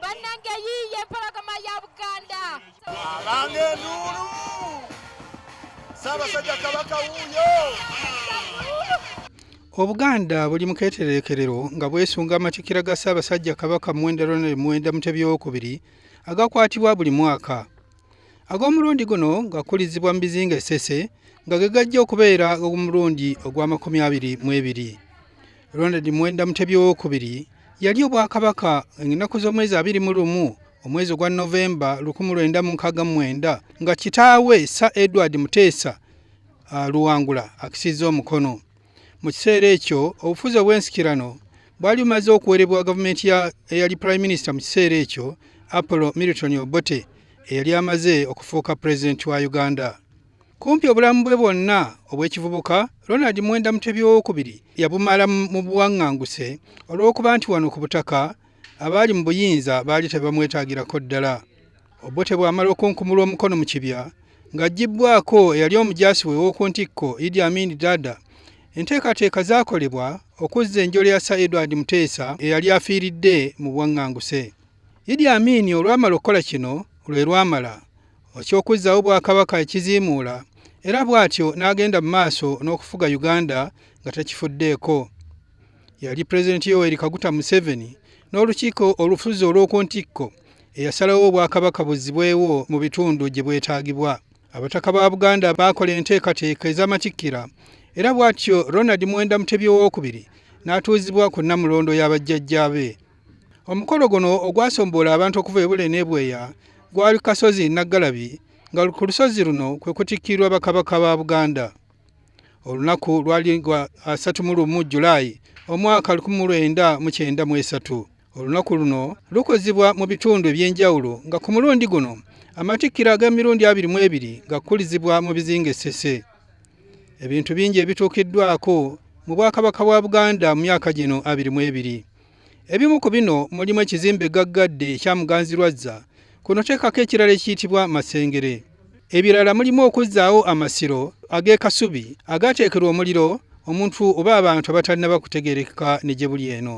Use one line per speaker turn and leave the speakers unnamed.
bannange yiiye empologoma ya buganda abange
enduulu saabasajja kabaka wuuyo
obuganda buli mu keetereekerero nga bwesunga amatikira ga ssaabasajja kabaka muwenda ronald muwenda mutebi wokubiri agakwatibwa buli mwaka ag'omulundi guno gakulizibwa mu bizinga esese nga ge gajja okubeera ogumulundi ogw'amakumi abiri mu ebiri ronald mwenda mutebi owokubiri yali obwakabaka ennaku z'omwezi abiri mu lumu omwezi ogwa novemba 1969 nga kitaawe sa edward muteesa luwangula akisiza omukono mu kiseera ekyo obufuzi obw'ensikirano bwali bumaze okuwerebwa gavumenti eyali prime minister mu kiseera ekyo apollo milton obote eyali amaze okufuuka pulezidenti wa uganda kumpi obulamu bwe bwonna obw'ekivubuka ronald mwenda mutebi owokubiri yabumala mu buwaŋŋanguse olw'okuba nti wano ku butaka abaali mu buyinza baali tebamwetagirako ddala Obote bw'amala okunkumulwa omukono mu kibya ng'aggibbwako eyali omujaasi we w'oku ntikko Idi Amin Dada, enteekateeka zaakolebwa okuzza enjole ya Sir Edward Muteesa eyali afiiridde mu bwaŋŋanguse. Idi Amin olwamala okukola kino lwe lwamala okyokuzzaawo Bwakabaka ekiziimuula era bw'atyo n'agenda mu maaso n'okufuga Uganda nga takifuddeeko. Yali Pulezidenti Yoweri Kaguta Museveni n'olukiiko olufuzi olw'oku ntikko eyasalawo obwakabaka buzzibwewo mu bitundu gye bwetaagibwa abataka ba buganda baakola enteekateeka ez'amatikkira era bw'atyo ronald mwenda mutebi owookubiri n'atuuzibwa ku nnamulondo ya bajjajjaabe omukolo guno ogwasomboola abantu okuva ebule n'ebweya gwali kasozi naggalabi nga ku lusozi luno kwe kutikkirwa bakabaka ba buganda olunaku lwali lwa asatu mu lumu julayi omwaka lukumi mu lwenda mu kyenda mu esatu olunaku luno lukozibwa mu bitundu eby'enjawulo nga ku mulundi guno amatikkira ag'emirundi abiri mu ebiri gakukulizibwa mu bizinga essese ebintu bingi ebituukiddwako mu bwakabaka bwa buganda mu myaka gino abiri mu ebiri ebimu ku bino mulimu ekizimbe gaggadde ekya muganzirwazza kuno teekako ekirala ekiyitibwa masengere ebirala mulimu okuzzaawo amasiro ag'ekasubi agaateekerwa omuliro omuntu oba abantu abatalina bakutegerekeka ne gye buli eno